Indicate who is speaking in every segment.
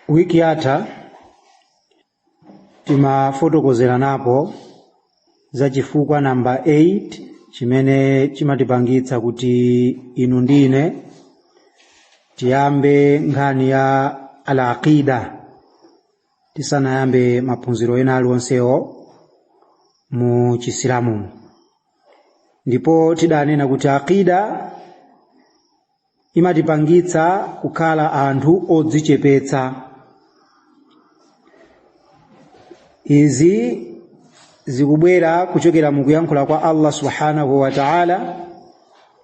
Speaker 1: wiki yatha timafotokozeranapo za chifukwa namba 8 chimene chimatipangitsa kuti inu ndi ine tiyambe nkhani ya al aqida tisanayambe maphunziro ena aliwonsewo mu chisilamu ndipo tidanena kuti aqida imatipangitsa kukhala anthu odzichepetsa izi zikubwera kuchokera mu kuyankhula kwa Allah subhanahu wa ta'ala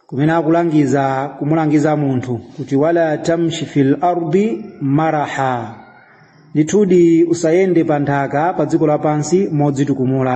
Speaker 1: kumene akulangiza kumulangiza munthu kuti wala tamshi fil ardi maraha ndithudi usayende pa nthaka pa dziko lapansi modzitukumula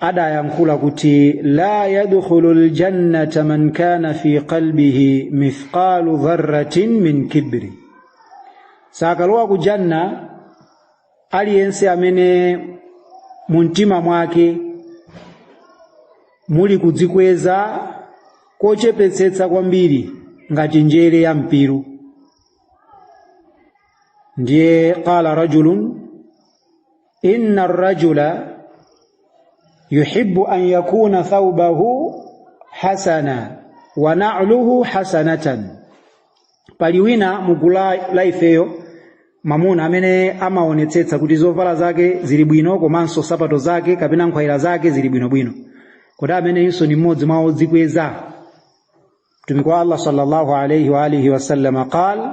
Speaker 1: adayankhula kuti la yadkhulu ljannata man kana fi qalbihi mithqalu dharratin min kibri sakalowa ku janna aliyense amene mumtima mwake muli kudzikweza kochepetsetsa kwambiri ngati njere ya mpiru ndiye qala rajulun inna rajula yuhibbu an yakuna thawbahu hasana wa na'luhu hasanatan pali wina mugulu la ifeyo mamuna amene amaonetsetsa kuti zovala zake zili bwino komanso sapato zake kapena nkhwayira zake zili bwinobwino kodi ameneyunso ni mmodzi mwa odzikweza mtumiki wa allah sallallahu alaihi wa alihi wasallam qal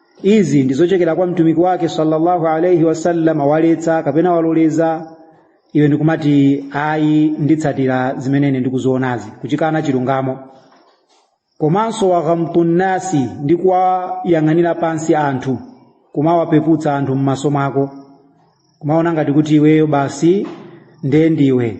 Speaker 1: izi ndi zochokera kwa mtumiki wake sallallahu alaihi wasallam waletsa kapena waloleza iwe ndikumati ayi nditsatira zimene ine ndikuzionazi kuchikana chilungamo komanso waghamtu nnasi ndi kuwayang'anira pansi anthu kumawapeputsa anthu m'maso mwako kumaona ngati kuti iweyo basi ndiye ndiwe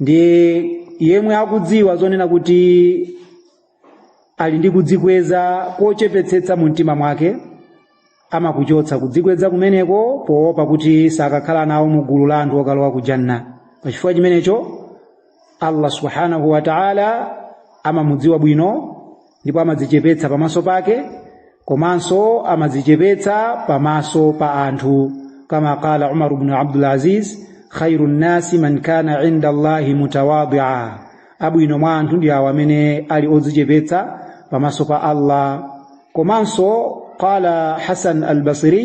Speaker 1: ndiye yemwe akudziwa zonena kuti ali ndi kudzikweza kochepetsetsa mu mtima mwake amakuchotsa kudzikweza kumeneko poopa kuti sakakhala nawo mu gulu la anthu okalowa ku janna pachifukwa chimenecho allah subhanahu wa taala amamudziwa bwino ndipo amadzichepetsa pamaso pake komanso amadzichepetsa pamaso pa anthu kama qala umar ibn abdul aziz khairu nnasi man kana inda allahi mutawadia abwino mwa anthu ndi awo amene ali odzichepetsa pamaso pa allah komanso qala hasan albasri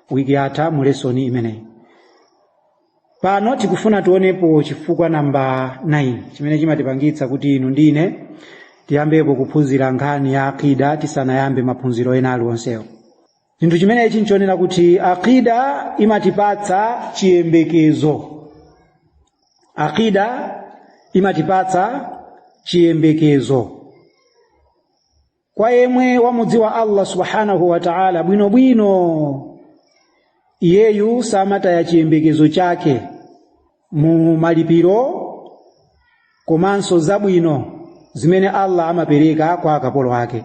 Speaker 1: wiki yatha mu lesoni imeneyi pano tikufuna tionepo chifukwa namba 9 chimene chimatipangitsa kuti inu ndi ine tiyambepo kuphunzira nkhani ya akida tisanayambe maphunziro ena aliwonsewo chinthu chimenechi nchonena kuti akida imatipatsa chiyembekezo akida imatipatsa chiyembekezo kwa yemwe wamudziwa allah subhanahu wa ta'ala bwinobwino iyeyu samataya chiyembekezo chake mu malipiro komanso zabwino zimene allah amapereka kwa akapolo ake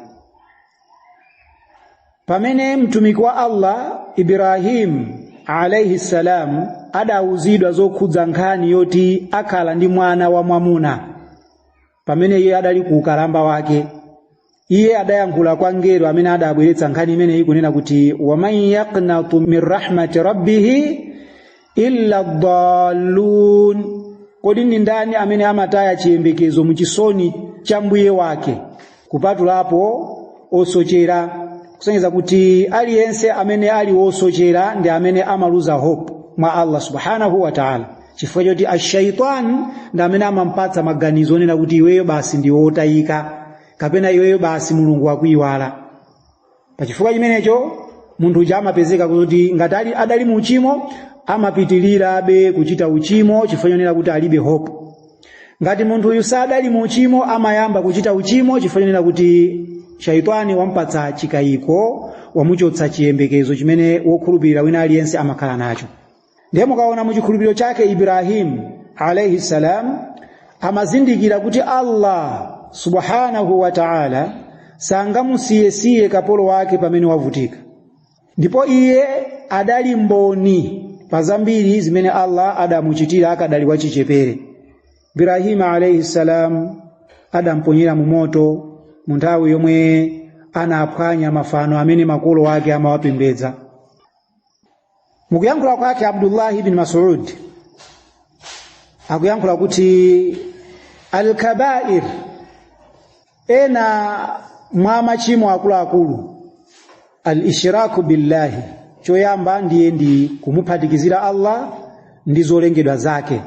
Speaker 1: pamene mtumiki wa allah ibrahim alaihi salam adawuzidwa zokhudza nkhani yoti akhala ndi mwana wamwamuna pamene iye adali ku ukalamba wake iye adayankhula kwa mngelo amene adabweretsa nkhani imeneyi kunena kuti waman yaknatu min rahmati rabbihi illa dallun kodi ndi ndani amene amataya chiyembekezo mu chisoni cha mbuye wake kupatulapo osochera kusonyeza kuti aliyense amene ali wosochera ndi amene amaluza hope mwa allah subhanahu wa taala chifukwa choti ashaitani ndi amene amampatsa maganizo onena kuti iweyo basi ndiwe wotayika kapena iweyo basi mulungu wakuyiwala pa chifukwa chimenecho munthu uja amapezeka kuti ngati ali- adali mu uchimo amapitirirabe kuchita uchimo chifukwa chonena kuti alibe hope ngati munthu uyu sadali mu uchimo amayamba kuchita uchimo chifukwa chonena kuti shaitani wampatsa chikayiko wamuchotsa chiyembekezo chimene wokhulupirira wina aliyense amakhala nacho ndiye mukaona mu chikhulupiriro chake Ibrahimu alaihi salam amazindikira kuti Allah subhanahu wa ta'ala sangamusiyesiye kapolo wake pamene wavutika ndipo iye adali mboni pa zambiri zimene Allah adamuchitira akadali wachichepere Ibrahim alayhi salam adamponyera mu moto mu nthawi yomwe anaphwanya mafano amene makolo ake amawapembedza mukuyankhula kwake abdullahi ibn masud akuyankhula kuti al-kabair ena mwa machimo akuluakulu al-ishraku billahi choyamba ndiye ndi kumuphatikizira allah ndi zolengedwa zake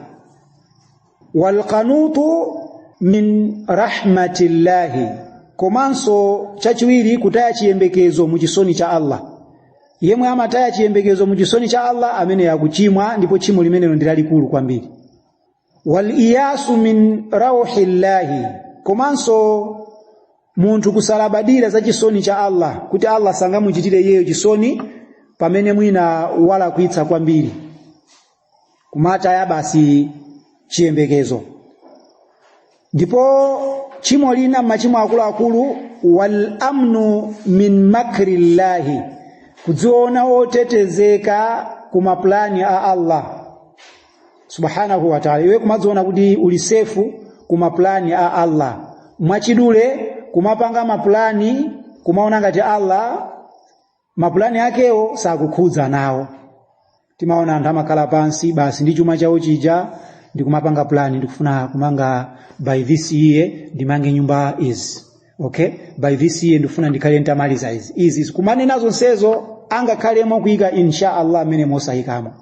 Speaker 1: walqunutu min rahmatillahi komanso chachiwiri kutaya chiyembekezo mu chisoni cha allah yemwe amataya chiyembekezo mu chisoni cha allah ameneyo akuchimwa ndipo tchimo limenelo ndi lalikulu kwambiri waliyasu min rauhillahi komanso munthu kusalabadira za chisoni cha allah kuti allah sangamuchitire iyeyo chisoni pamene mwina walakwitsa kwambiri kumataya basi chiyembekezo ndipo tchimo lina mmachimo akuluakulu wal amnu min makri llahi kudziona otetezeka ku mapulani a allah subhanahu wa taala iwe kumadziona kuti uli sefu ku mapulani a allah mwachidule kumapanga mapulani kumaona ngati allah mapulani akewo sakukhudza nawo timaona anthu amakhala pansi basi ndi chuma chawo chija ndikumapanga pulani ndikufuna kumanga by this year ndimange nyumba izi okay by this year ndikufuna ndikhale ntamaliza izi izi izi kumanena zonsezo angakhale mokuyika insha allah amene mosayikamo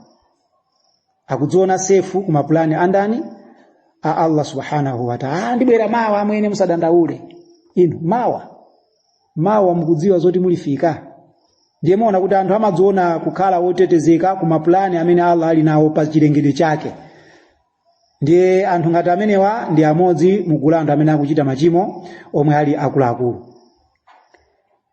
Speaker 1: akudziona sefu ku mapulani andani a allah subhanahu wataala ndibwera mawa amwene musadandaule inu mawa mawa mukudziwa zoti mulifika ndiye muona kuti anthu amadziona kukhala otetezeka ku mapulani amene allah ali nawo pa chilengedwe chake ndiye anthu ngati amenewa ndi amodzi mugulu la anthu amene akuchita machimo omwe ali akuluakulu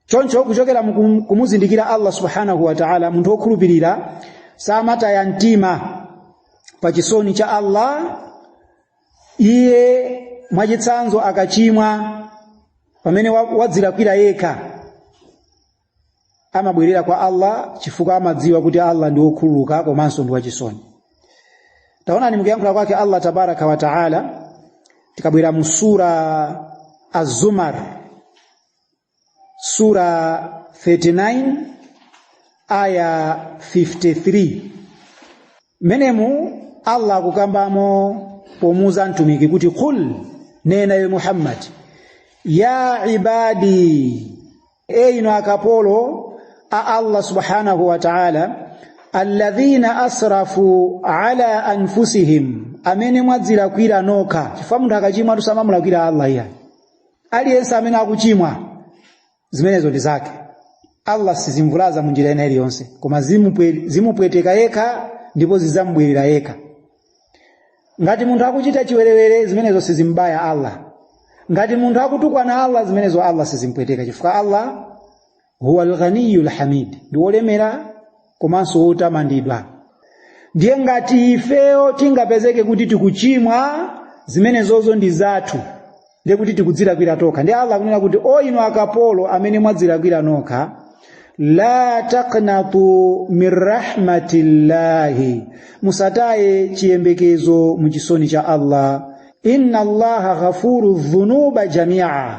Speaker 1: choncho kuchokera muku- kumuzindikira allah subhanahu wa taala munthu wokhulupirira samataya mtima pa chisoni cha allah iye mwachitsanzo akachimwa pamene wa- wadzilakwira yekha amabwerera kwa Allah chifukwa amadziwa kuti Allah ndi wokhululuka komanso ndi wachisoni taonani mukuyankhula kwake Allah tabaraka wa taala tikabwera mu sura az-zumar Sura 39 aya 53 menemu Allah akukambamo pomuuza mtumiki kuti qul nena iwe Muhammad ya ibadi e inu akapolo a Allah subhanahu wa ta'ala alladhina asrafu ala anfusihim amene mwadzilakwira nokha chifukwa munthu akachimwa samamulakwira Allah iyayi aliyense amene akuchimwa zimenezo ndi zake allah sizimvulaza mu njira ina iliyonse koma zimupwe- zimupweteka yekha ndipo zizamubwerera yekha ngati munthu akuchita chiwerewere zimenezo sizimbaya allah ngati munthu akutukwana allah zimenezo allah sizimpweteka chifukwa allah huwa alghaniyu lhamid ndi wolemera komanso wotamandidwa ndiye ngati ifeyo tingapezeke kuti tikuchimwa zimenezozo ndi zathu ndiye kuti tikudzilakwira tokha ndiye allah akunena kuti o inu akapolo amene mwadzilakwira nokha la taknatu min rahmatillahi musataye chiyembekezo mu chisoni cha allah inna allaha ghafuru dhunuba jamia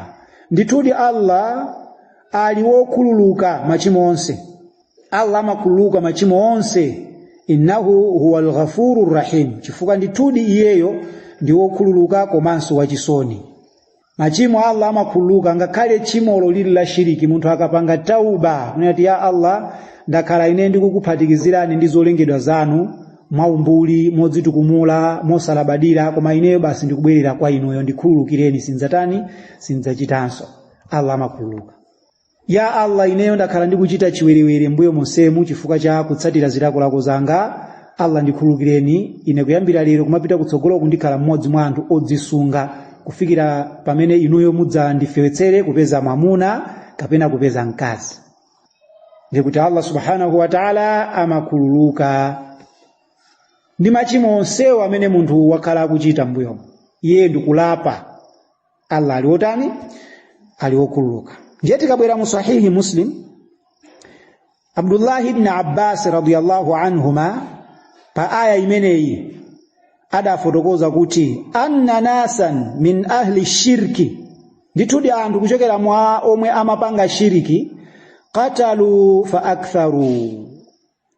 Speaker 1: ndithudi allah ali wokhululuka machimo onse allah amakhululuka machimo onse innahu huwa lghafuru rrahim chifukwa ndithudi iyeyo ndi wokhululuka komanso wachisoni machimo allah amakhululuka ngakhale tchimolo lili la shiriki munthu akapanga tauba kunena kuti ya allah ndakhala ine ndikukuphatikizirani ndi zolengedwa zanu mwaumbuli modzitukumula mosalabadira koma ineyo basi ndikubwerera kwa inuyo ndikhululukireni sindzatani sindzachitanso allah amakhululuka ya allah ineyo ndakhala ndikuchita chiwerewere mbuyo monsemu chifukwa cha kutsatira zilakolako zanga allah ndikhululukireni ine kuyambira lero kumapita kutsogolo ndikhala mmodzi mwa anthu odzisunga kufikira pamene inuyo mudzandifewetsere kupeza mwamuna kapena kupeza mkazi ndiye kuti allah subhanahu wataala amakhululuka ndi machimo onsewo amene munthu wakhala akuchita mbuyo iye ndikulapa allah ali wotani ali wokhululuka ndiye tikabwera mu sahihi muslim abdullahi ibni abbasi radiallahu anhuma pa aya imeneyi adafotokoza kuti anna nasan min ahli shirki ndithudi anthu kuchokera mwa omwe amapanga shiriki qatalu fa aktharu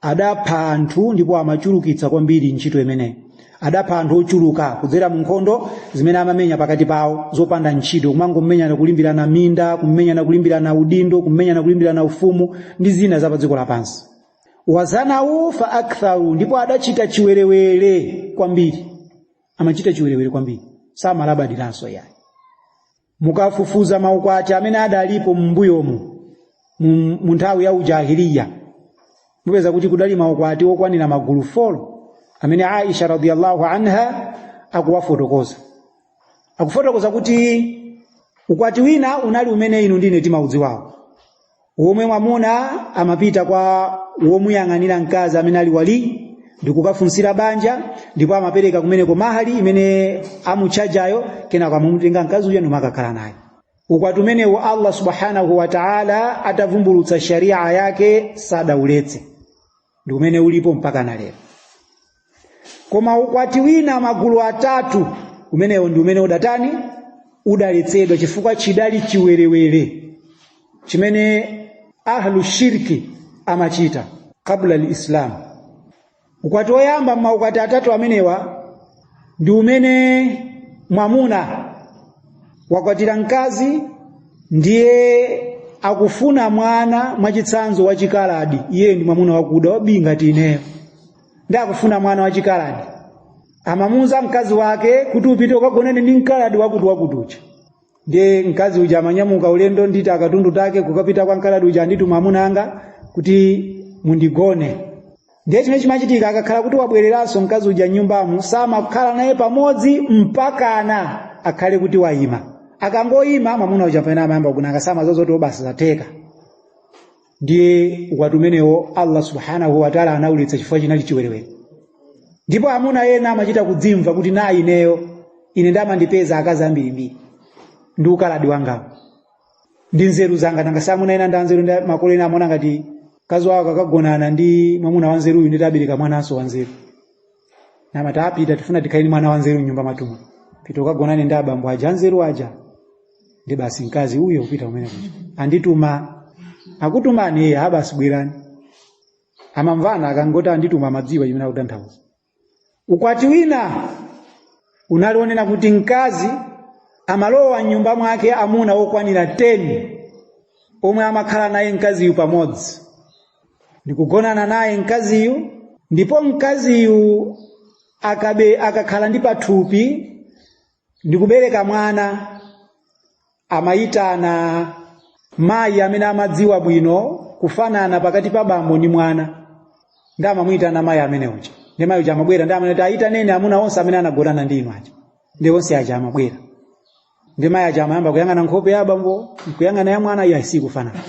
Speaker 1: adapha anthu ndipo amachulukitsa kwambiri ntchito imeneyi adapha anthu ochuluka kudzera mu nkhondo zimene amamenya pakati pawo zopanda ntchito kumangomenyana kulimbirana minda kumenyana kulimbirana udindo kumenyana kulimbirana ufumu ndi zina za padziko lapansi wazanawu fa aktharu ndipo adachita chiwerewere kwambiri amachita chiwerewere kwambiri samalabadiranso yayi mukafufuza maukwati amene adalipo m'mbuyomo mu- mu nthawi ya ujahiliya mupeza kuti kudali maukwati okwanira magulu 4 amene aisha radiyallahu anha akuwafotokoza akufotokoza kuti ukwati wina unali umene inu ndi ine timaudziwawo womwe mwamuna amapita kwa womuyang'anira mkazi amene ali wali ndikukafunsira banja ndipo amapereka kumeneko mahali imene amutchajayo kenako amamutenga mkazi uja ndikumakakhala naye ukwati umenewo allah subhanahu wa taala atavumbulutsa sharia yake sadauletse ndi umene ulipo mpaka na lero koma maukwati ena magulu atatu umenewo ndi umene udatani udaletsedwa chifukwa chidali chiwerewere chimene ahlu shirki amachita qabla lislamu ukwati woyamba m'maukwati atatu amenewa ndi umene mwamuna wakwatira mkazi ndiye akufuna mwana mwachitsanzo wachikaladi iye ndi mwamuna wakuda wabii ngati ineyo ndiye akufuna mwana wachikaladi amamuuza mkazi wake kuti upite ukagonane ndi mkaladi wakuti wakuti uja ndiye mkazi uja amanyamuka ulendo ndi timakatundu take kukapita kwa mkaladi uja andituma amuna anga kuti mundigone ndiye chimene chimachitika akakhala kuti wabwereranso mkazi uja mnyumbamo samakhala naye pamodzi mpakana akhale kuti wayima akangoyima mwamuna uja mpamene amayamba kugona naye samazoti basi zatheka ndiye ukwati umenewo allah subhanahu wataala anauletsa chifukwa chinali chiwerewere ndipo amuna ena amachita kudzimva kuti nane ineyo ine nde amandipeza akazi ambirimbiri ndi ukaladi wangawo ndi nzeru zanga nanga si amuna ena ndi anzeru nde makolo ena amaona ngati mkazi wawo akagonana ndi mwamuna wanzeruyu nditibereka mwananso wanzeru nde amati pita tifuna tikhale ndi mwana wanzeru mnyumba mwathu muno pita ukagonane ndi abambo aja anzeru aja nde basi mkazi uja kupita kumene kuja andituma akutumani eya basi bwerani amamvana akangoti andituma amadziwa chimene akutanthauza ukwati wina unali onena kuti mkazi amalowa mnyumba mwake amuna okwanira 10 omwe amakhala naye mkaziyu pamodzi ndikugonana naye mkaziyu ndipo mkaziyu akabe akakhala ndi pathupi ndikubereka mwana amayitana mayi amene amadziwa bwino kufanana pakati pa bambo ndi mwana nde amamuyitana mayi amene uja nde mayi uja amabwera nde amanena kuti ayitaneni amuna onse amene anagonana ndi inu aja nde onse aja amabwera nde mayi aja amayamba kuyang'ana nkhope ya abambo nkuyang'ana ya mwana iya sakufanana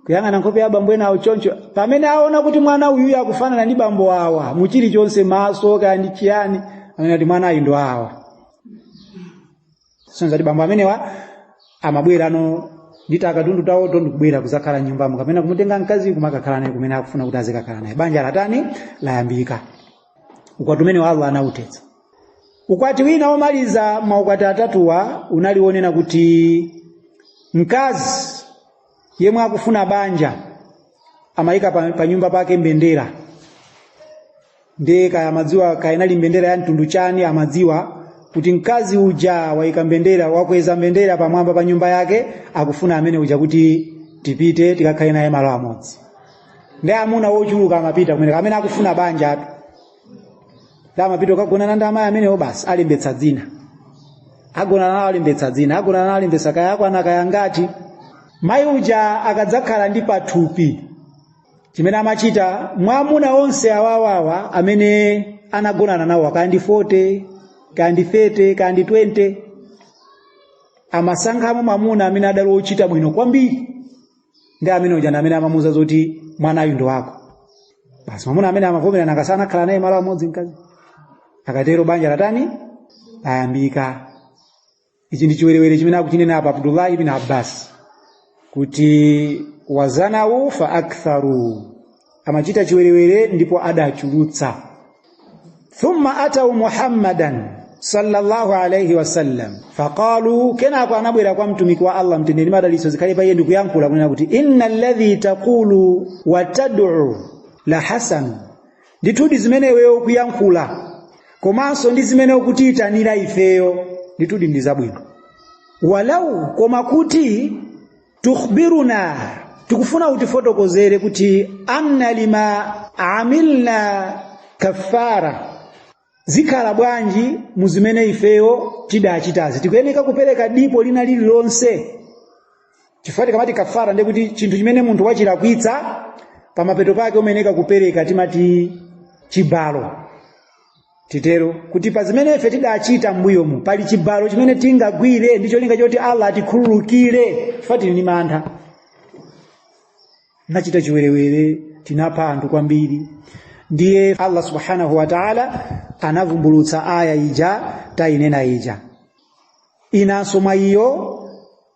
Speaker 1: kuyang'ana nkhope ya bambo enawo choncho pamene aona kuti mwana uyuyu akufanana ndi bambo awa mu chilichonse maso kaya ndi chiyani amanena kuti mwanayu ndi wa awa sonza kuti bambo amenewa amabwera no ndi takatundu tawo ndikubwera kuzakhala mnyumbamo kapena kumutenga mkazi kumakakhala naye kumene akufuna kuti azikakhala naye banja latani layambika ukwati umenewo allah anauletsa Ukwati wina womaliza maukwati atatuwa unali wonena kuti mkazi yemwe akufuna banja amayika pa, pa nyumba pake mbendera ndiye kaya amadziwa kaya inali mbendera ya mtundu chani amadziwa kuti mkazi uja wayika mbendera wakweza mbendera pamwamba pa nyumba yake akufuna amuna kuti tipite tikakhale naye malo amodzi ndi amuna wochuluka amapita kumene amene akufuna banja atu amapita kukagonana ndi amayi amenewo basi alembetsa dzina agonana nawo alembetsa dzina agonana nawo alembetsa kaya akwana angati mayi uja akadzakhala ndi pathupi chimene amachita mwamuna onse awawawa amene anagonana nawo kaya ndi 40 kaya ndi 30 kaya ndi 20 amasankhamo mwamuna amene adali wochita bwino kwambiri ndi amene uja ndi amene amamuuza zoti mwanayu ndi wako basi mwamuna amene amavomera nanga sanakhala naye malo amodzi mkazi akatero banja latani layambika ichi ndi chiwerewere chimene akuchinena apa abdullahi ibn abbas kuti wazanawu fa aktharu amachita chiwerewere ndipo adachulutsa thumma atau muhammadan sallallahu alaihi wasallam faqalu kenako anabwera kwa Mtumiki wa allah mtendere madalitso zikhale pa iye ndikuyankhula kunena kuti inna alladhi taqulu wa tad'u la hasan ndithudi zimene iweyo ukuyankhula komanso ndi zimene ukutiyitanira ifeyo ndithudi ndi zabwino walau koma kuti tukhbiruna tikufuna utifotokozere kuti anna lima amilna kafara zikhala bwanji mu zimene ifeyo tidachitazi tikuyeneka kupereka dipo lina lililonse chifukwa tikamati kafara ndiye kuti chinthu chimene munthu wachilakwitsa pamapeto pake umayeneka kupereka timati chibalo titero kuti pa zimene ife tidachita m'mbuyomu pali chibalo chimene tingagwire ndi cholinga choti allah atikhululukire chifukwa tili ndi mantha tinachita chiwerewere tinapha anthu kwambiri ndiye allah subhanahu wa taala anavumbulutsa aya ija tayinena ija inanso mwa iyo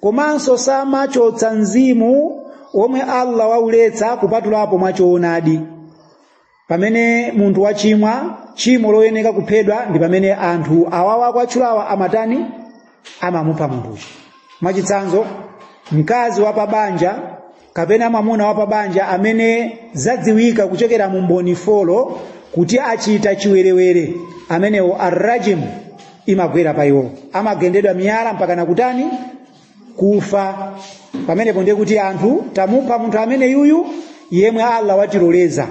Speaker 1: komanso samachotsa mzimu womwe Allah wauletsa kupatulapo mwa choonadi pamene munthu wachimwa chimo loyeneka kuphedwa ndi pamene anthu awawa akutchulawa amatani amamupha munthuyo mwachitsanzo mkazi wa pabanja kapena mwamuna wa pabanja amene zadziwika kuchokera mu mboni folo kuti achita chiwerewere amenewo arrajim imagwera pa iwo amagendedwa miyala mpaka nakutani kufa pamenepo ndiye kuti anthu tamupha munthu amene yuyu yemwe allah watiloleza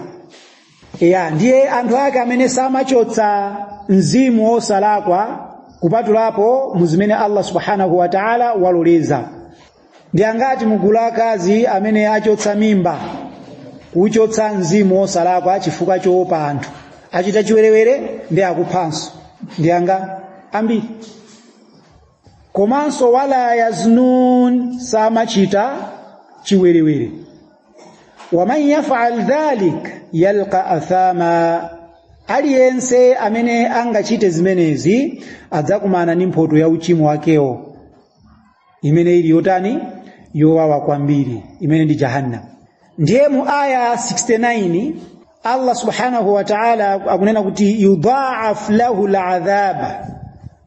Speaker 1: ya ndiye anthu ake amene samachotsa mzimu wosalakwa kupatulapo mu zimene allah subhanahu wa taala waloleza ndi angati mugulu akazi amene achotsa mimba kuchotsa mzimu wosalakwa chifukwa choopa anthu achita chiwerewere ndi akuphanso ndi angati ambiri komanso wala yaznun samachita chiwerewere waman yafal dhalik yalqa athama aliyense amene angachite zimenezi adzakumana ndi mphoto ya uchimo wakewo imene ili yotani yowawa kwambiri imene ndi jahannam ndiye mu aya 69 Allah subhanahu wa ta'ala akunena kuti yudhaaf lahu ladhaba,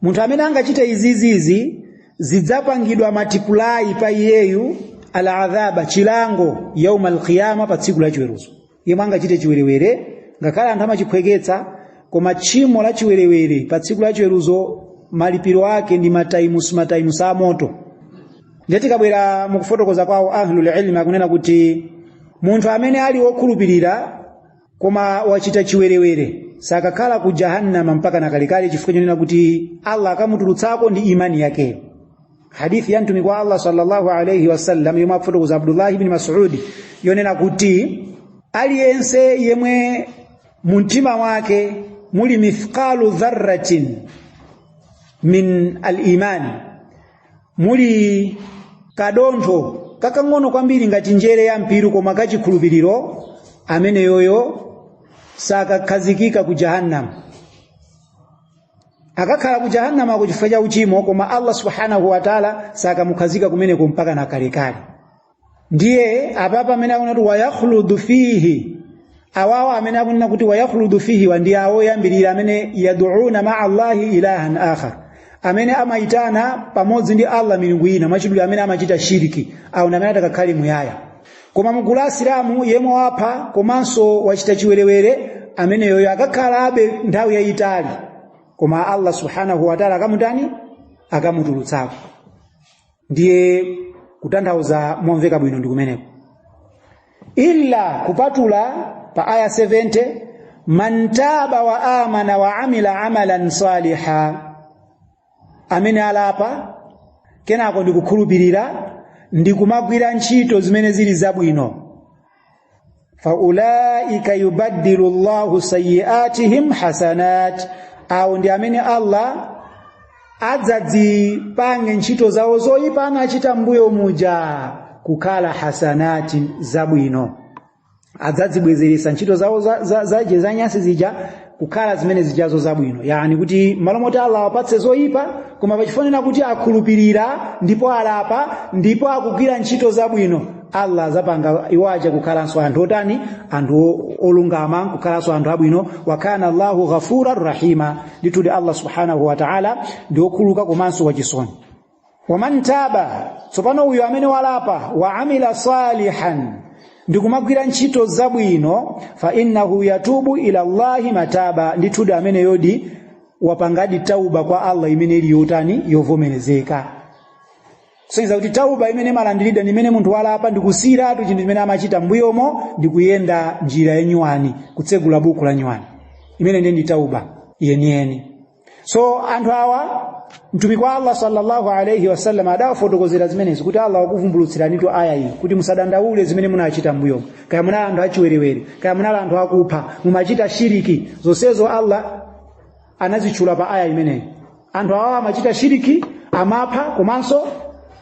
Speaker 1: munthu amene angachite izizizi zidzapangidwa matipulayi pa iyeyu aladhaba, chilango yauma alqiyama, pa tsiku la chiweruzo. Yemwe angachite chiwerewere, ngakhale anthu amachiphweketsa, koma tchimo la chiwerewere pa tsiku la chiweruzo malipiro ake ndi mataimusi mataimusi a moto. ndiye tikabwera mukufotokoza kwawo ahlul ilmi akunena kuti munthu amene ali wokhulupirira koma wachita chiwerewere sakakhala ku jahannama mpaka nakalekale chifukwa chonena kuti allah akamutulutsako ndi imani yake hadithi ya mtumiki wa allah sallallahu alaihi wasallam yomwe akufotokoza abdullahi ibni masudi yonena kuti aliyense yemwe mumtima wake muli mithqalu dharratin min alimani muli kadontho kakang'ono kwambiri ngati njere ya mpiru koma kachikhulupiriro ameneyoyo sakakhazikika ku jahannam akakhala ku jahannamako chifukwa cha uchimo koma allah subhanahu wataala sakamukhazika kumeneko mpaka na kalekale ndiye apapa amene akunena kuti wayakhuludu fihi awawo amene akunena kuti wayakhuludu fihiwa ndi awo oyambirira amene yaduuna maa allahi ilahan akhar amene amayitana pamodzi ndi allah milungu ina mwachidule amene amachita shiriki awo ndi amene atakakhale muyaya koma mugulu la asilamu yemwe wapha komanso wachita chiwerewere ameneyoyo akakhalabe nthawi yayitali koma allah subhanahu wataala akamutani akamutulutsako ndiye kutanthauza momveka bwino ndi kumeneko illa kupatula pa aya 70 man taba wa amana wa amila amalan saliha amene alapa kenako ndikukhulupirira ndikumagwira ntchito zimene zili zabwino faulaika yubaddilu llahu sayiatihim hasanat awo ndi amene allah adzadzipange ntchito zawo zoyipa anachita mbuyo muja kukhala hasanati zabwino adzadzibwezeretsa ntchito zawo zija za, za, za, za nyansi zija kukhala zimene zijazo zabwino yani kuti malo moti allah awapatse zoyipa koma pachifukwa kuti akhulupirira ndipo alapa ndipo akugwira ntchito zabwino allah azapanga iwo aja kukhalanso anthu otani anthu o- olungama kukhalanso anthu abwino wakana allahu ghafura rahima ndithudi allah subhanahu wa taala ndi okhululuka komanso wachisoni waman taba tsopano uyo amene walapa wa amila salihan ndikumagwira ntchito zabwino fa innahu yatubu ila llahi mataba ndithudi ameneyodi wapangadi tauba kwa allah imene ili yotani yovomerezeka kusonyeza kuti tauba imene imalandiridwa ndi imene munthu walapa ndikusiyiratu chinthu chimene amachita mbuyomo ndikuyenda njira yanyuwani kutsegula buku la nyuwani imene ndiye ndi tauba yeniyeni so anthu awa mtumiki wa allah sallallahu alaihi wasallam adawafotokozera zimenezi kuti allah wakuvumbulutsiranitu aya iyi kuti musadandaule zimene munachita mbuyomo kaya munali anthu achiwerewere kaya munali anthu akupha mumachita shiriki zonsezo allah anazitchula pa aya imeneyi anthu awa amachita shiriki amapha komanso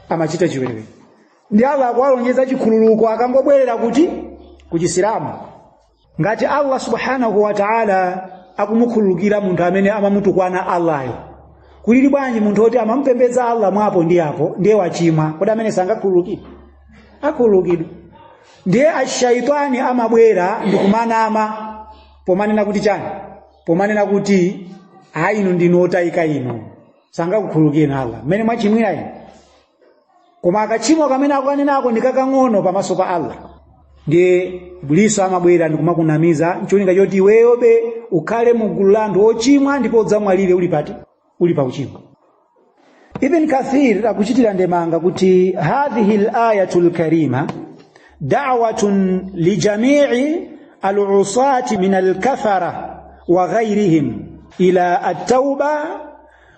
Speaker 1: amachita chiwerewere ndiye allah akuwalonjeza chikhululuko akangobwerera kuti kuchisilamu ngati allah subhanahu wa taala akumukhululukira munthu amene amamutukwana allahyo kulili bwanji munthu woti amamupembedza allah mwapo ndi apo ndiye wachimwa kodi ameneyo sangakhululukidwe akhululukidwa ndiye ashaitani amabwera ndi kumanama pomanena kuti chani pomanena kuti ayi inu ndinu otayika inu sangakukhululukireni allah mmene mwachimwira inu koma kachimo kamene akukanenako ndi kakang'ono pamaso pa allah ndiye iblisi amabwera ndikumakunamiza ncholinga choti iweyobe ukhale mu gulu la anthu ochimwa ndipo udzamwalire uli pati uli pa uchimo ibn kathir akuchitira ndemanga kuti hadhihi l-ayatu lkarima dawatun lijamii alusati min alkafara wa ghairihim ila attauba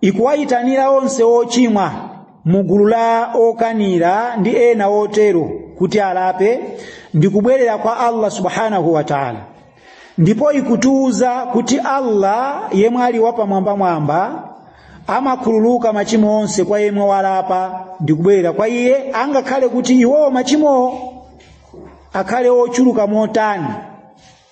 Speaker 1: ikuwayitanira onse ochimwa mu gulu la okanira ndi ena otero kuti alape ndi kubwerera kwa Allah subhanahu wa ta'ala ndipo ikutiuza kuti Allah yemwe ali wapamwambamwamba amakhululuka machimo onse kwa yemwe walapa ndi kubwerera kwa iye angakhale kuti iwowo machimowo akhale ochuluka motani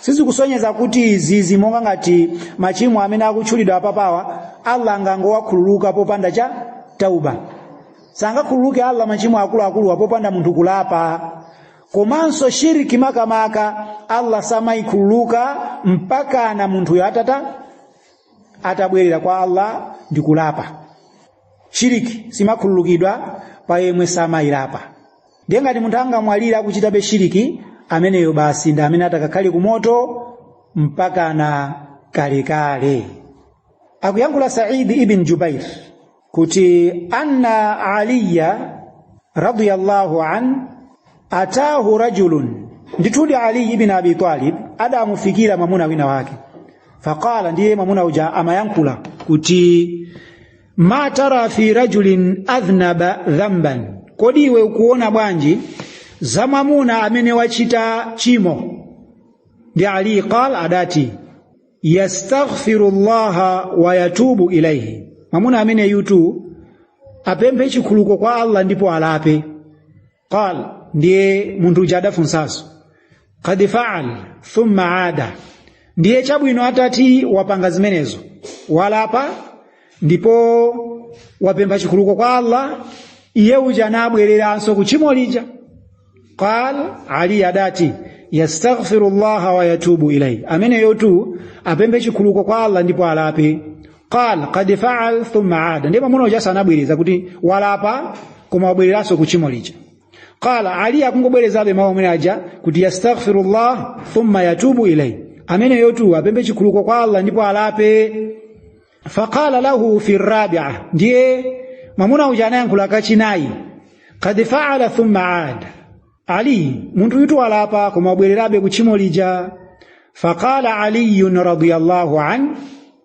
Speaker 1: sizikusonyeza kuti zizi monga ngati machimo amene akutchulidwa apapawa allah angangowakhululuka popanda cha tauba sangakhululuke allah machimo akuluakuluwa popanda munthu kulapa komanso shiriki makamaka allah samayikhululuka mpaka na munthuyo atata atabwerera kwa allah ndi kulapa shiriki simakhululukidwa pa yemwe samayilapa ndiye ngati munthu angamwalire akuchitabe shiriki ameneyo basi ndi amene atakakhale ku moto mpakana kalekale akuyankhula saidi ibn jubair kuti anna aliya radiyallahu an atahu rajulun ndithudi ali ibn abi talib adamufikira mwamuna wina wake faqala ndiye mwamuna uja amayankhula kuti ma tara fi rajulin adhnaba dhamban kodi iwe ukuona bwanji za mwamuna amene wachita chimo ndiye ali qal adati yastaghfiru llaha wa yatubu ilaihi mwamuna ameneyutu apemphe chikhululuko kwa allah ndipo alape qal ndiye munthu uja adafunsanso kad faal thumma ada ndiye chabwino atati wapanga zimenezo walapa ndipo wapempha chikhululuko kwa allah iye uja nabwereranso ku tchimo lija qal ali adati yastaghfiru llaha wa yatubu ilaihi ameneyotu apemphe chikhululuko kwa allah ndipo alape qala qad faal thumma ada ndipo munthu ujaso anabwereza kuti walapa koma wabwereranso ku tchimo lija qala ali akungobwerezabe mawu amene aja kuti yastaghfirullah thumma yatubu ilayhi ameneyotu apemphe chikhululuko kwa allah ndipo alape faqala lahu fi rabia ndiye mwamuna uja anayankhula kachinayi qad faala thumma ada ali munthuyutu walapa koma wabwererabe ku tchimo lija faqala aliyun radiyallahu an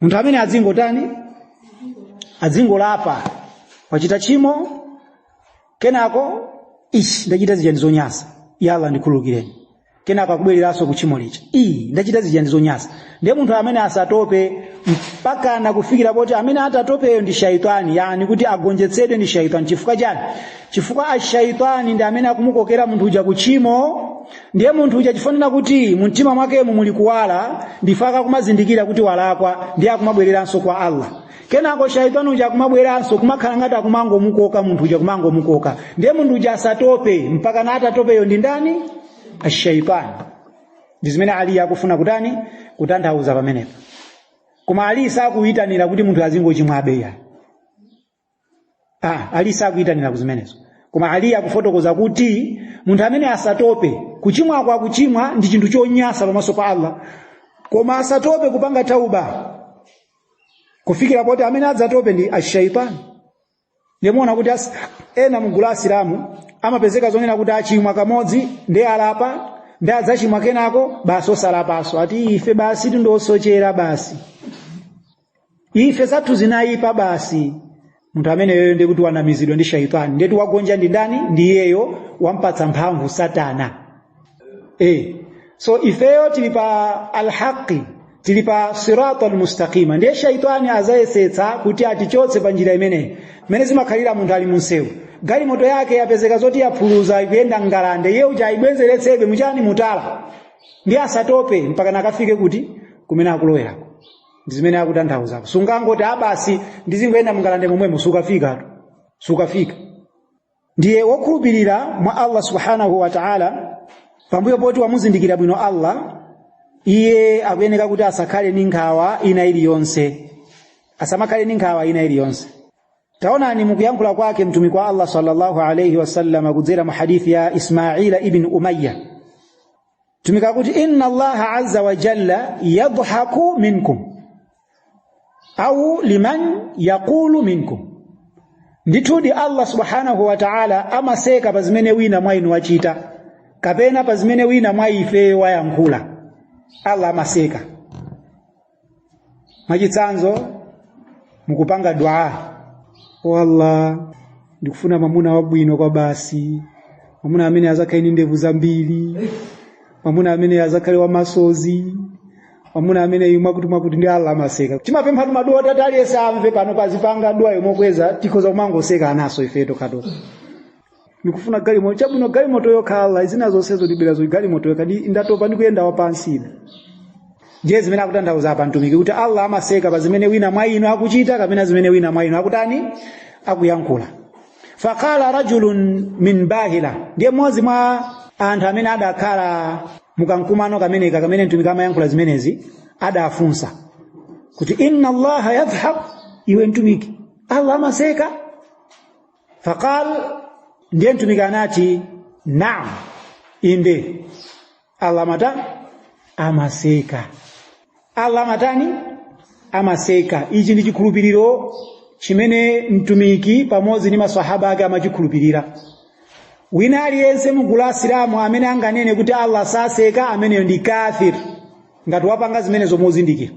Speaker 1: munthu ameneyu adzingotani adzingolapa wachita tchimo kenako ishi ndachita zija ndi zonyansa ya allah ndikhululukireni kenako akubwereranso ku tchimo lija iyi ndachita zija ndi zonyansa ndiye munthu ameneyu asatope mpakana kufikira poti amene atatopeyo ndi shaitani yani kuti agonjetsedwe ndi shaitani chifukwa chani chifukwa ashaitani ndi amene akumukokera munthu uja ku tchimo ndiye munthu uja chifukwa kuti mu mtima mwakemo muli kuwala ndiye akakumazindikira kuti walakwa ndiye akumabwereranso kwa allah kenako shaitani uja akumabweranso kumakhala ngati akumangomukoka munthu uja kumangomukoka ndiye munthu uja asatope mpaka na atatopeyo ndi ndani ashaitani ndi zimene ali akufuna kutani kutanthauza pamenepo koma ali sakuyitanira kuti munthu azingochimwabe yani ah, ali sakuyitanira kuzimenezo koma ali akufotokoza kuti munthu amene asatope kuchimwa koma kuchimwa ndi chinthu chonyasa pamaso pa Allah koma asatope kupanga tauba kufikira poti amene adzatope ndi ashaitani ndiye mumaona kuti as, ena mgulu la asilamu amapezeka zonena kuti achimwa kamodzi ndiye alapa ndiye adzachimwa kenako basi osalapaso ati ife basi tindosochera basi ife zathu zinayipa basi munthu ameneyoyo ndiye kuti wanamizidwa ndi shaitani ndiye kuti wagonja ndi ndani ndi iyeyo wampatsa mphamvu satana e. so ifeyo tili pa alhaqi tili pa sirata almustaqima ndiye shaitani azayesetsa kuti atichotse pa njira imeneyi mmene zimakhalira munthu ali munsewu galimoto yake yapezeka zoti yaphuluza ikuyenda ngalande iye uja ayibwezeretsebe muchani mutala ndiye asatope mpaka nakafike kuti kumene akulowera ndi zimene akutanthauza apa sungangoti a basi ndizingoyenda mungalande momwemo sukafikatu sukafika ndiye wokhulupirira mwa allah subhanahu wa taala pambuyo poti wamuzindikira bwino allah iye akuyeneka kuti asakhale ndi nkhawa ina iliyonse asamakhale ndi nkhawa ina iliyonse taonani mukuyankhula kwake mtumiki wa allah sallallahu alaihi wasallama kudzera mu hadithi ya ismaila ibn umayya mtumiki akuti inna allaha azza wa jalla yadhaku minkum au liman yaqulu minkum ndithudi allah subhanahu wa ta'ala amaseka pa zimene wina mwa inu wachita kapena pa zimene wina mwa ife wayankhula allah amaseka mwachitsanzo mukupanga dua o allah ndikufuna mwamuna wabwino kwa basi mwamuna amene azakhale ndi ndevu zambiri mwamuna amene azakhale wamasozi mwamuna amene imwe wakuti mwakuti ndiye allah amaseka timapemphatu maduwa titati aliyense amve pano azipanga duwa yomokweza tikhoza kumangoseka nanso ifeyo tokhatokha ndikufuna galimoto chabwino galimoto yokha Allah zina zonsezo ndibwera zo galimoto yokha ndiye ndatopa ndikuyenda wapansi ine ndiye zimene akutanthauza apa mtumiki kuti Allah amaseka pa zimene wina mwa inu akuchita kapena zimene wina mwa inu akutani akuyankhula faqala rajulun min bahila ndiye mmodzi mwa anthu amene adakhala mukamkumano kameneka kamene mtumiki amayankhula zimenezi adafunsa kuti inna allaha yadhhak iwe mtumiki allah amaseka faqal ndiye mtumiki anati naam inde allah amata amaseka allah amatani amaseka ichi ndi chikhulupiriro chimene mtumiki pamodzi ndi maswahaba ake amachikhulupirira wina aliyense mu gulu la asilamu amene anganene kuti allah saseka ameneyo ndi kafir ngati wapanga zimenezo mozindikira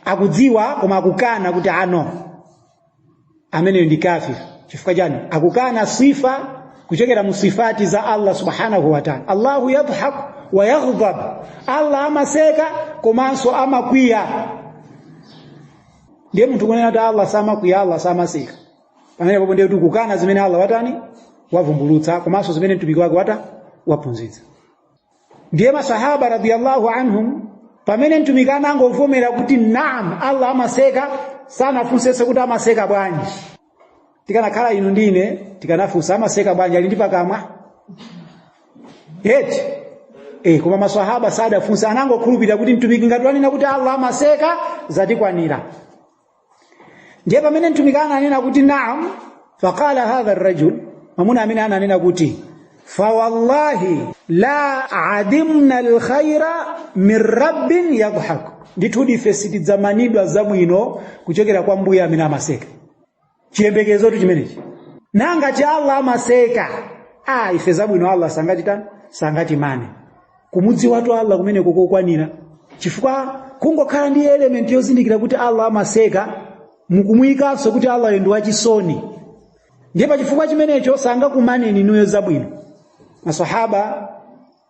Speaker 1: akudziwa koma akukana kuti no ameneyo ndi kafir chifukwa chani akukana sifa kuchokera mu sifati za allah subhanahu wa taala allahu yadhhaku wa yaghdab allah amaseka komanso amakwiya ndiye munthu kunena kuti allah samakwiya allah samaseka pamene papo ndiye kukana zimene allah watani wavumbulutsa komanso zimene mtumiki wake wata waphunzitsa ndiye masahaba radiyallahu anhum pamene mtumiki anangovomera kuti naam allah amaseka sanafunsenso kuti amaseka bwanji tikanakhala inu ndine tikanafunsa amaseka bwanji ali ndi pakamwa eti koma masahaba sadafunse anangokhulupirira kuti mtumiki ngati wanena kuti allah amaseka zatikwanira ndiye pamene mtumiki ananena kuti naam faqala hadha arrajul mwamuna amene ananena kuti fawallahi la adimna alkhaira min rabbin yadhhak ndithudi ife sitidzamanidwa zabwino kuchokera kwa mbuye amene amaseka chiyembekezotu chimenechi nanga ngati allah amaseka a ife zabwino allah sangatitani sangatimane kumudziwatu allah kumeneko kokwanira chifukwa kungokhala ndi elementi yozindikira kuti allah amaseka mukumuyikanso kuti allahyo ndi wachisoni ndiye pa chifukwa chimenecho sangakumaneni inuyo zabwino masahaba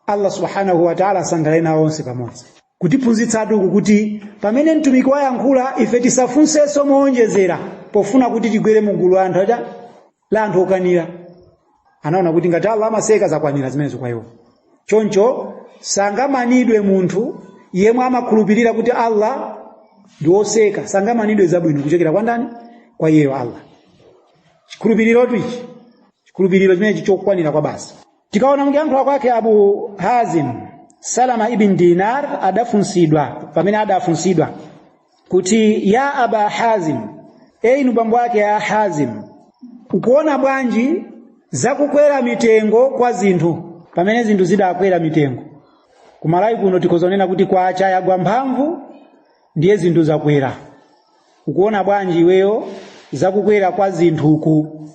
Speaker 1: allah subhanahu wataala asangalale nawo onse pamodzi kutiphunzitsatu uku kuti pamene mtumiki wayankhula ife tisafunsenso mowonjezera pofuna kuti tigwere mu gulu la anthu aja la anthu okanira anaona kuti ngati allah amaseka zakwanira zimenezo kwa iwo choncho sangamanidwe munthu yemwe amakhulupirira kuti allah ndi woseka sangamanidwe zabwino kuchokera kwa ndani kwa iyeyo allah chikhulupirirotu ichi chikhulupiriro chimenechi chokwanira kwabasi tikaona mukuyankhula kwake abu hazim salama ibn dinar adafunsidwa pamene adafunsidwa kuti ya aba hazim e inu bambo ake a hazim ukuona bwanji zakukwera mitengo kwa zinthu pamene zinthu zidakwera mitengo kumalawi kuno tikhoza kunena kuti kwacha yagwa mphamvu ndiye zinthu zakwera ukuona bwanji iweyo zakukwera kwa zinthu uku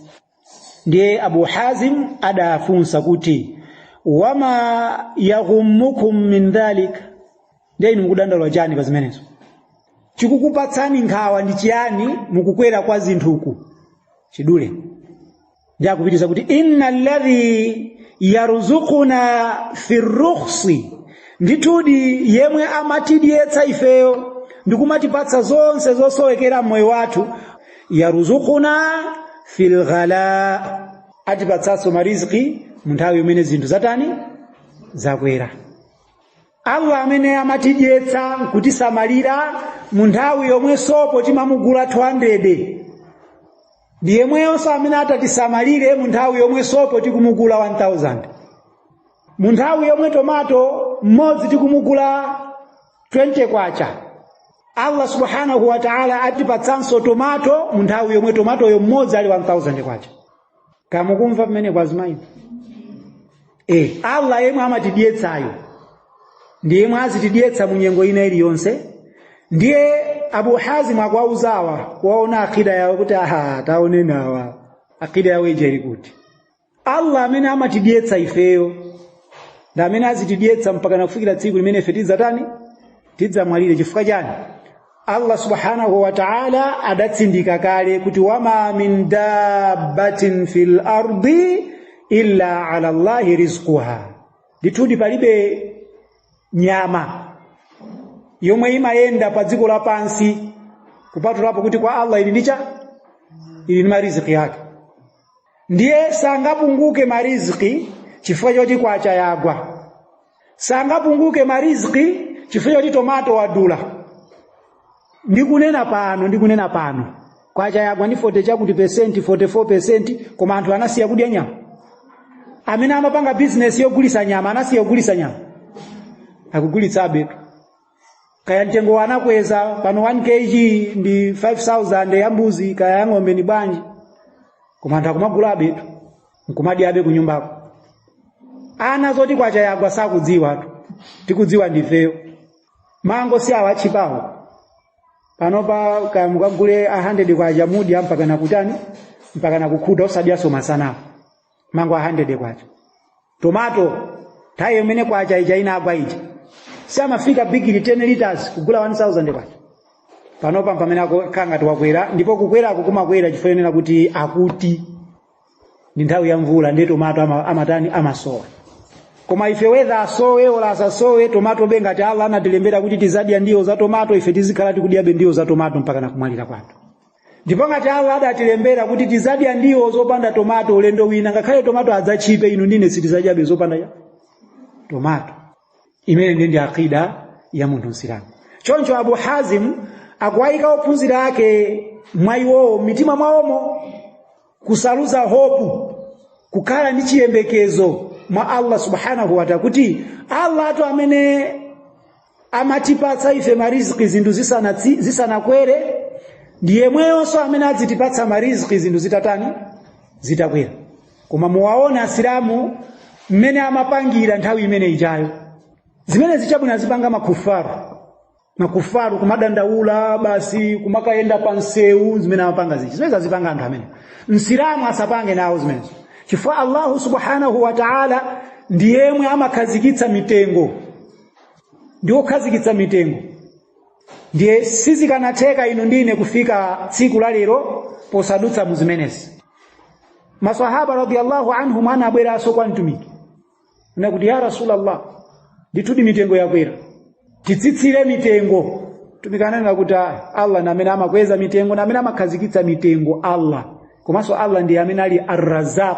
Speaker 1: ndiye abu hazim adafunsa kuti wama yaghummukum min dhalik ndiye inu mukudandaula chani pa zimenezo chikukupatsani nkhawa ndi chiyani mukukwera kwa zinthuku chidule ndiye akupitiriza kuti inna alladhi yarzuquna fi rukhsi ndithudi yemwe amatidyetsa ifeyo ndikumatipatsa zonse zosowekera mmoyo wathu yarzuquna fil ghala atipatsanso mariziki mu nthawi imene zinthu zatani zakwera allah amene amatidyetsa nkutisamalira mu nthawi yomwe sopo timamugula 200 ndi yemweyonso amene atatisamalire mu nthawi yomwe sopo tikumugula 1000 mu nthawi yomwe tomato mmodzi tikumugula 20 kwacha Allah subhanahu wa ta'ala atipatsanso tomato mu nthawi yomwe tomatoyo mmodzi ali 1000 kwacha kaya mukumva pamenepo kwa zimayi eh Allah yemwe amatidyetsayo ndiye yemwe azitidyetsa mu nyengo ina iliyonse ndiye Abu Hazim akuwauzawa kuwaona akida yawo kuti aha taoneni awa akida yawo ijeri kuti allah amene amatidyetsa ifeyo ndi amene azitidyetsa mpaka nakufikira tsiku limene ife tidzatani tidzamwalire chifukwa chani allah subhanahu wa taala adatsindika kale kuti wama min dabbatin fi lardi illa ala llahi rizquha ndithudi palibe nyama yomwe imayenda pa dziko lapansi kupatulapo kuti kwa allah ili ndi chani ili ndi mariziki yake ndiye sangapunguke mariziki chifukwa choti kwacha yagwa sangapunguke mariziki chifukwa choti tomato wadula ndikunena pano ndikunena pano kwacha yagwa ndi 40 chakuti pesenti 44 pesenti koma anthu anasiya kudya nyama amene amapanga bizinesi yogulisa nyama anasiya kugulisa nyama akugulitsabe kaya mtengo anakweza pano 1 kg ndi 5000 ya mbuzi kaya ya ng'ombe ni bwanji koma anthu akumagulabetu nkumadyabe kunyumbako ana zoti kwacha yagwa sakudziwatu tikudziwa ndifeyo mango si awa atchipawo panopa kaya mukagule 100 kwacha mudya mpaka nakutani mpaka nakukhuta osadyaso masanapo mango 100 kwacha tomato nthawi imene kwacha ija inagwa ija samafika bigili 10 liters kugula 1000 kwacha panopa pamene akukhala ngati wakwera ndipo kukwerako kumakwera chifukwa chonena kuti akuti ndi nthawi ya mvula ndiye tomato ama- amatani amasowa koma ife whether asowe ola asasowe tomatobe ngati allah anatilembera kuti tizadya ndiwo za tomato ife tizikhala tikudyabe ndiwo za tomato mpaka nakumwalira kwathu ndipo ngati allah adatilembera kuti tizadya ndiwo zopanda tomato ulendo wina ngakhale tomato adzatchipe inu ndi ine sitizadyabe zopanda ya tomato imene ndi ndi akida ya munthu msilamu choncho abu hazim akuwayika ophunzira ake mwa iwowo m'mitima mwawomo kusaluza hopu kukhala ndi chiyembekezo mwa allah subhanahu wataala kuti allah wathu amene amatipatsa ife mariziki zinthu zisanatsi- zisanakwere ndi yemweyonso amene azitipatsa mariziki zinthu zitatani zitakwera koma muwaona asilamu mmene amapangira nthawi imene ijayo zimene zi chabwino azipanga makufaru makufaru kumadandaula basi kumakayenda pa msewu zimene amapanga zija zimene azipanga anthu amene msilamu asapange nawo zimenezo chifukwa allahu subhanahu wa taala ndi yemwe amakhazikitsa mitengo ndi wokhazikitsa mitengo ndiye sizikanatheka inu ndi ine kufika tsiku la lero posadutsa mu zimenezi masahaba radiyallahu anhum anabweranso kwa mtumiki nakuti ya rasulallah ndithudi mitengo yakwera titsitsire mitengo mtumiki ananena kuti "Ah, allah ndi amene amakweza mitengo ndi amene amakhazikitsa mitengo allah komanso allah ndi amene ali arrazaq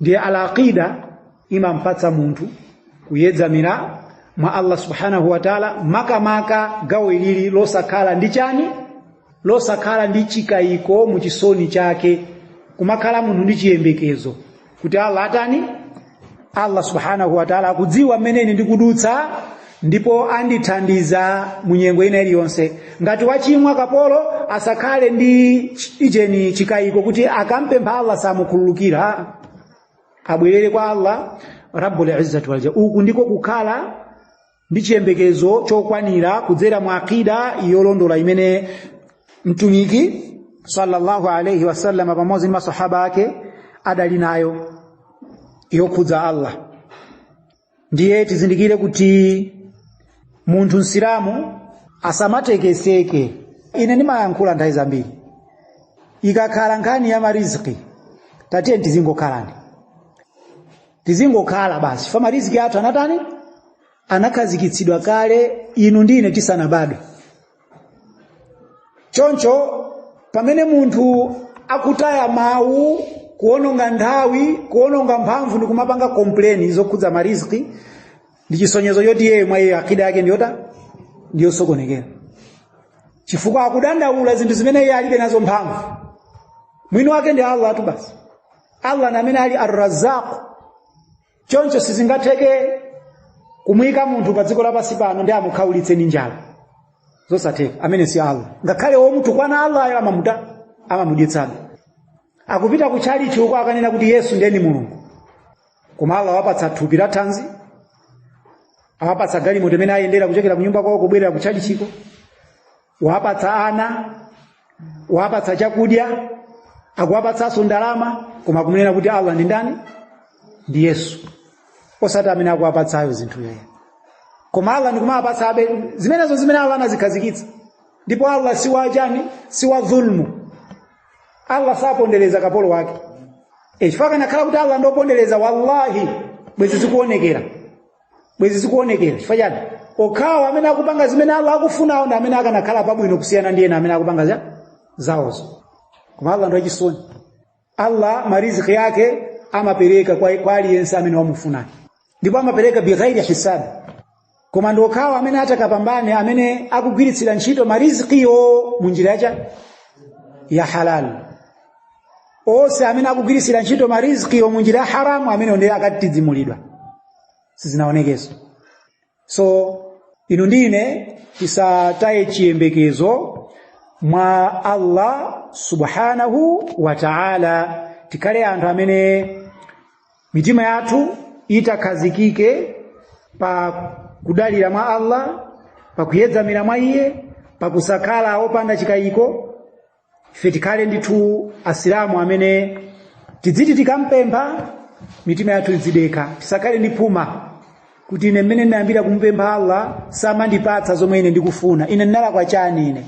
Speaker 1: ndiye alaqida imampatsa munthu kuyedzamira mwa allah subhanahu wa taala makamaka gawo ilili losakhala ndi chani losakhala ndi chikayiko mu chisoni chake kumakhala munthu ndi chiyembekezo kuti allah atani allah subhanahu wa taala akudziwa mmene ine ndikudutsa ndipo andithandiza mu nyengo ina iliyonse ngati wachimwa kapolo asakhale ndi ch- ujeni chikayiko kuti akampempha allah samukhululukira abwerere kwa allah rabbul izzati wal jalal uku ndiko kukhala ndi chiyembekezo chokwanira kudzera mu akida yolondola imene mtumiki sallallahu alaihi wasallam pamodzi ndi masahaba ake adali nayo yokhudza allah ndiye tizindikire kuti munthu msilamu asamatekeseke ine ndimayankhula nthawi zambiri ikakhala nkhani ya mariziki tatiyeni tizingokhalani tizingokhala basi chifukwa mariziki athu anatani anakhazikitsidwa kale inu ndi ine tisanabadwe choncho pamene munthu akutaya mawu kuononga nthawi kuononga mphamvu ndi kumapanga complain zokhudza mariziki ndi chisonyezo choti iyeyo mwa iye akida yake ndiyota ndiyosokonekera chifukwa akudandaula zinthu zimene iye alibe nazo mphamvu mwini wake ndi allah tu basi allah ndi amene ali arrazaq choncho sizingatheke kumuyika munthu pa dziko lapansi pano ndiye amukhaulitse ndi njala zosatheka amene si allah ngakhale womutukwana allayo amamuta amamudyetsabe akupita ku tchalichi uko akanena kuti yesu ndiye mulungu koma allah awapatsa thupi la thanzi awapatsa galimoto imene ayendera kuchokera kunyumba kwawo kubwerera ku tchalichiko kuwapatsa ana kuwapatsa chakudya akuwapatsanso ndalama koma kumunena kuti allah ndi ndani ndi yesu osati amene akuwapatsayo zinthu yeye koma allah ndikumawapatsa abe zimenezo zimene allah anazikhazikitsa ndipo allah si wachani si wa dhulmu allah sapondereza kapolo wake e, chifukwa kanakhala kuti allah ndopondereza wallahi bwezi zikuonekera bwezi zikuonekera chifukwa chani okhawo amene akupanga zimene allah akufunawo ndi amene akanakhala pabwino kusiyana ndi ena amene akupanga za zawozo koma allah ndi wachisoni allah mariziki yake amapereka kwa, kwa aliyense amene wamufuna ndipo amapereka bighairi hisabi koma ndi okhawo amene atakapambane amene akugwiritsira ntchito marizikiyo mu njira yacha ya halali onse amene akugwiritsira ntchito marizikiyo mu njira ya haramu amene ndiye akatidzimulidwa sizinaonekeso so inu ndi ine tisataye chiyembekezo mwa allah subhanahu wa taala tikhale anthu amene mitima yathu itakhazikike pa kudalira mwa allah pa kuyedzamira mwa iye pa kusakhala opanda chikayiko ife tikhale ndithu asilamu amene tidziti tikampempha mitima yathu idzidekha tisakhale ndi phuma kuti ine mmene ndinayambira kumupempha allah samandipatsa zomwe ine ndikufuna ine ndinalakwa chani ine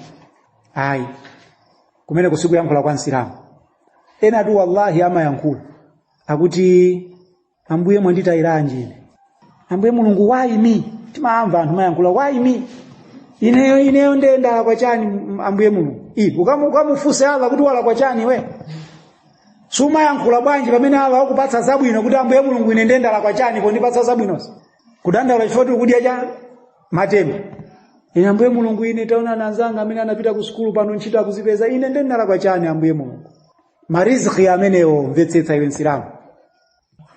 Speaker 1: ayi kumeneku sikuyankhula kwa msilamu enatu wallahi amayankhula akuti ambuye mwanditayiranji ine ambuye mulungu why me timamva anthu amayankhula why me ineyo ineyo ndiye ndalakwa chani m- ambuye mulungu ivi ukamu- ukamufunse allah kuti walakwa chani iwe sumayankhula bwanji pamene allah wakupatsa zabwino kuti ambuye mulungu ine ndiye ndalakwa chani pondipatsa zabwinozi kudandaula chifukwa tili kudya cha matemba ine ambuye mulungu ine taona anzanga amene anapita ku sukulu pano ntchito akuzipeza ine ndiye ndalakwa chani ambuye mulungu mariziki amenewo mvetsetsa iwe msilamu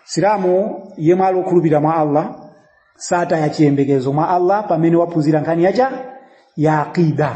Speaker 1: silamu yemwe ali okhulupirira mwa allah sataya chiyembekezo mwa allah pamene waphunzira nkhani yacha ya aqida